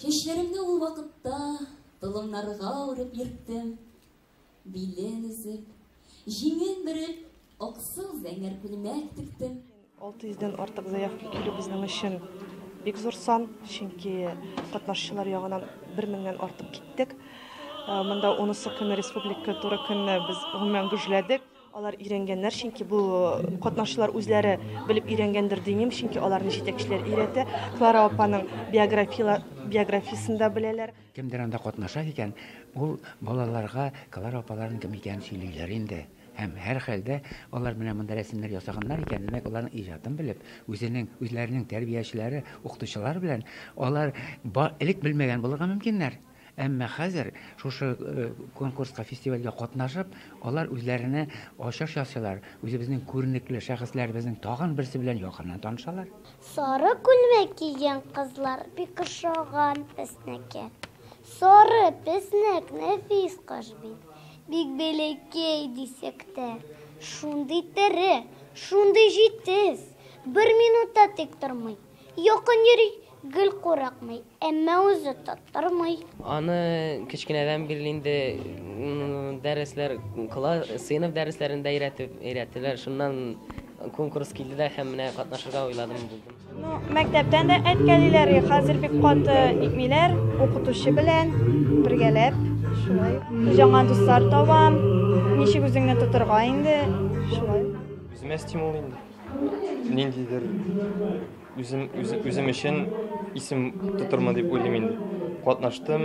Чәчләремне ул вакытта толымнарга үреп йөрттем. Билен өзеп, җиңен биреп, аксыл зәңгәр күлмәк тектем. 600 дән артык заявка килү безнең өчен бик зур сан, чөнки катнашчылар ягынан 1000-нән артык киттек. Монда унысы көне республика туры көнне без гомумән гөжләдек. Алар өйрәнгәннәр, чөнки бу катнашчылар үзләре белеп өйрәнгәндер димим, чөнки аларны җитәкчеләр өйрәтә. Клара апаның биографиясен дә беләләр. Кемдер анда катнаша икән, ул балаларга Клара апаларның кем икәнен сөйлиләр инде. Һәм, һәрхәлдә, алар менә монда рәсемнәр ясаганнар икән, димәк, аларның иҗатын белеп, үзенең, үзләренең тәрбиячеләре, укытучылары белән алар элек белмәгән булырга мөмкиннәр. Әмма хәзер шушы конкурска, фестивальгә катнашып, алар үзләренә ачыш ясыйлар, үзебезнең күренекле шәхесләребезнең тагын берсе белән якыннан танышалар. Сары күлмәк кигән кызлар бик ошаган безнеке. Сары песнәк нәфис кош бит. Бик бәләкәй дисәк тә, шундый тере, шундый җитез, бер минут та тик тормый. Якын йөри, гел курыкмый, әмма үзе тоттырмый. Аны кечкенәдән бирле инде дәресләр кыла, сыйныф дәресләрендә өйрәтеп өйрәттеләр. Шуннан конкурс килде дә һәм менә катнашырга уйладым булдым. Ну, мәктәптән дә әткәлиләр, хәзер бик каты итмиләр, укытучы белән бергәләп шулай. Яңа дуслар табам, ничек үзеңне тотырга инде, шулай. Үземә стимул инде. ниндидер үзем үзем өчен исем тотырмын дип уйлыйм инде. Катнаштым,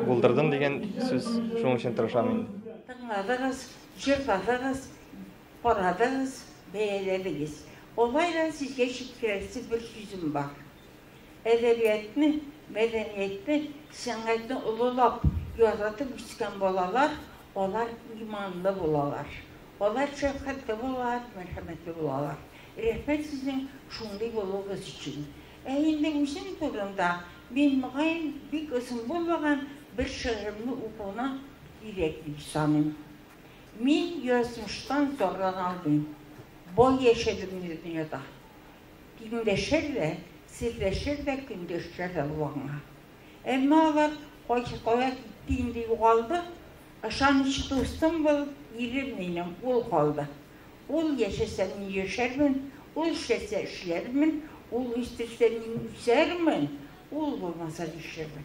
булдырдым дигән сүз шуның өчен тырышам инде. Тыңладыгыз, җырладыгыз, карадыгыз, бәяләдегез. Алай да сезгә җиткерәсе бер сүзем бар. Әдәбиятны, мәдәниятне, сәнгатьне олылап, яратып үскән балалар, алар иманлы булалар. Алар шәфкатьле булалар, мәрхәмәтле булалар. Рәхмәт сезнең шундый булуыгыз өчен. Ә инде үзем турында, мин, мөгаен, бик озын булмаган бер шигыремне укуны кирәк дип саныйм. Мин язмыштан зарлана алмыйм. Бай яшәдем мин дөньяда. Тиңдәшер дә, серләшер дә көндәшчә дә ул аңа. Әмма алар кайсы кая китте инде, югалды. Ышаныч дустым бул, ирем минем, ул калды. Ул яшәсә, мин яшәрмен, ул эшләсә, эшләрмен, ул үстерсә, мин үсәрмен, ул булмаса, нишләрмен?